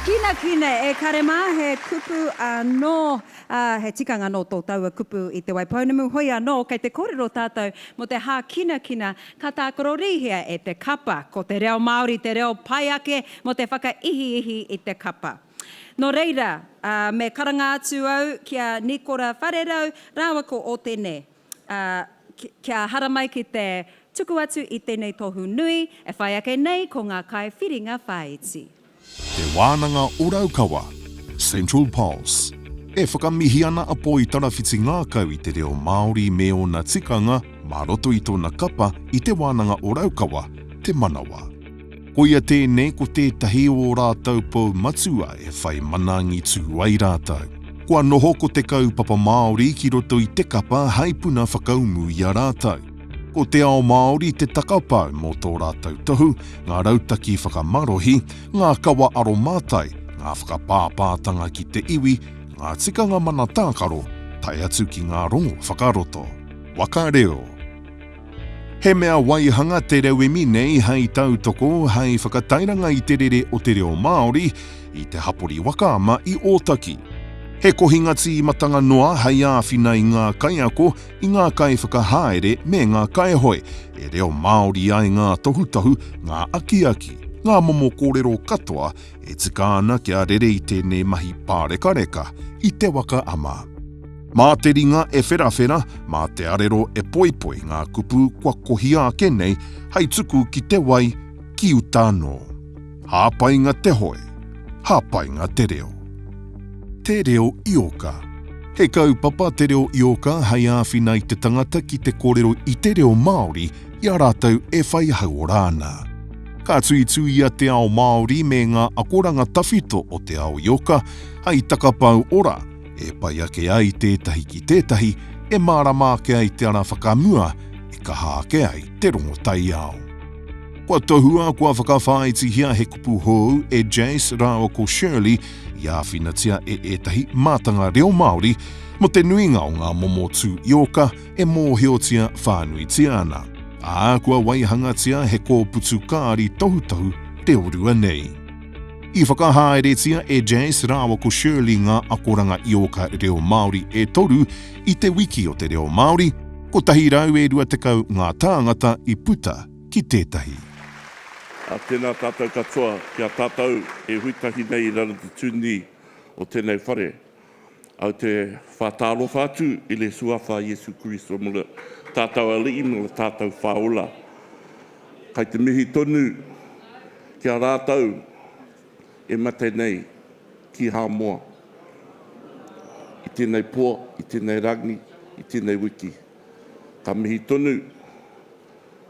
Hākinakina e kare mā, he kupu anō, ā, he tikanga nō tō taua kupu i Te Wai Pounamu, hoi anō, kei te kōrero tātou mō te hākinakina ka tākarorihia e te kapa, ko te reo Māori te reo pai ake mō te whakaihiihi i te kapa. Nō reira, ā, me karanga atu au ki a Nikora Wharerau rāua ko Ōtene. ā, kia haramai ki te tuku atu i tēnei tohu nui e whai ake nei ko ngā kaiwhiringa whāiti. Te Wānanga o Raukawa, Central Pulse. E whakamihi ana a Poi Tarawhiti Ngākau i te reo Māori me ōna tikanga mā roto i tōna kapa i Te Wānanga o Raukawa, Te Manawa. Koia tēnei ko tētahi o ō rātou pou matua e whai mana angitu ai rātou. Kua noho ko te kaupapa Māori ki roto i te kapa hei puna whakaumu i a rātou. Ko Te Ao Māori te takapau mō tō rātou tohu, ngā rautaki whakamarohi, ngā kawa aromātai, ngā whakapāpātanga ki te iwi, ngā tikanga mana tākaro, tae atu ki ngā rongo whakaroto. Waka Reo. He mea waihanga te rauemi nei hei tautoko, hei whakatairanga i te rere o te reo Māori i te hapori waka ama i Ōtaki. He kohinga tīmatanga noa hei āwhina i ngā kaiako, i ngā kaiwhakahaere me ngā kaihoe, e reo Māori ai ngā tohutohu, ngā akiaki, ngā momo kōrero katoa E tika ana kia rere i tēnei mahi pārekareka i te waka ama. Mā te ringa e wherawhera, mā te arero e poipoi ngā kupu kua kohia ake nei hei tuku ki te wai, ki uta anō. Hāpainga te hoe, hāpainga te reo. Te Reo Ioka He kaupapa Te Reo Ioka hei āwhina i te tangata ki te kōrero i te reo Māori i a rātou e whai hauora ana. Ka tuituia te ao Māori me ngā akoranga tawhito o te ao ioka hai takapau ora e pai ake ai tētahi ki tētahi, e mārama ake ai te ara whakamua, e kaha ake ai te rongo taiao. Kua tohua, kua whakawhāitihia he kupu hou e Jace rāua ko Shirley i āwhinatia e ētahi mātanga reo Māori mō te nuinga o ngā momo tū ioka, e mōhiotia whānuitia ana, ā, kua waihangatia he kōputu kāri tohutohu reorua nei. I whakahaeretia e Jace rāua ko Shirley ngā akoranga ioka reo Māori e toru i Te Wiki o te Reo Māori, 120 ngā tāngata i puta ki tētahi. Ā, tēnā tātou katoa ki a tātou e hui tahi nei i raro te tūnī o tēnei whare. Au te whātārofa atu i le suafa Iesu Kiriso mo le tātau aliʻi no le tātau whaola. Kai te mihi tonu ki a rātau e mate nei ki Hāmoa i tenei po, i tenei rangi, i tenei wiki. Ka mihi tonu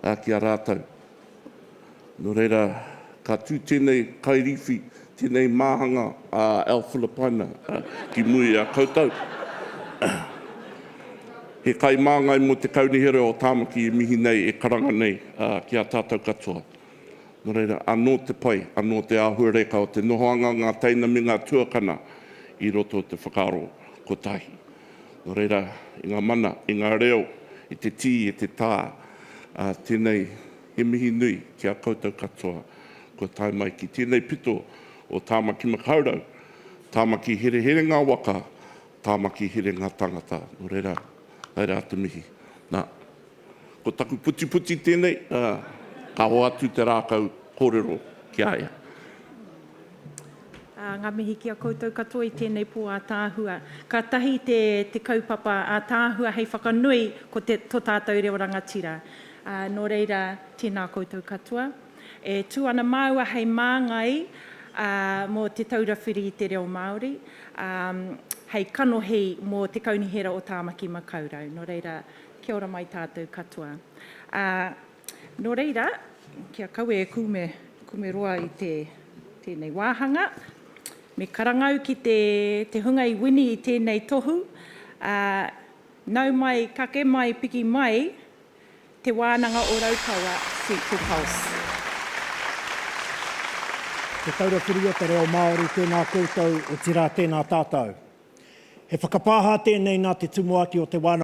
a ki a rātau. Nō reira, ka tū tēnei kairīwhi, tēnei māhanga a Al Filipaina ki muri i a koutou. He kai māngai mō te Kaunihera o Tāmaki e mihi nei, e karanga nei ki a tātou katoa. Nō reira, anō te pai, anō te āhuareka o te nohoanga o ngā teina me ngā tuakana i roto o te whakaaro kotahi. Nō reira, i ngā mana, i ngā reo, i te tī, i te tā, ā, tēnei, he mihi nui ki a koutou katoa kua tae mai ki tēnei pito o Tāmaki Makaurau, Tāmaki Hereherenga Waka, Tāmaki Herenga Tangata. Nō reira, tae rā te mihi. Nā. Ko taku putiputi tēnei, ā, ka hoa atu te rākau kōrero ki a ia. Ā, ngā mihi ki a koutou katoa i tēnei pō ātaahua. Kātahi te, te kaupapa ātaahua hei whakanui ko te, to tātou reo rangatira. Ā, nō reira, tēnā koutou katoa. E tū ana māua hei māngai, ā, mō Te Taura Whiri i te Reo Māori, ā, hei kanohi mō Te Kaunihera o Tāmaki Makaurau. Nō reira, Kia ora mai tātou katoa. Ā, nō reira, kia kawe e kume, kume roa i te, tēnei wāhanga, me karangau ki te, te hunga i wini i tēnei tohu, ā, nau mai, kake mai, piki mai, Te Wānanga o Raukawa, Sweet to Pulse. Te Taura Whiri o te Reo Māori, tēnā koutou, otirā, tēnā tātou. He whakapāha tēnei nā te Tumuaki o Te Wānanga.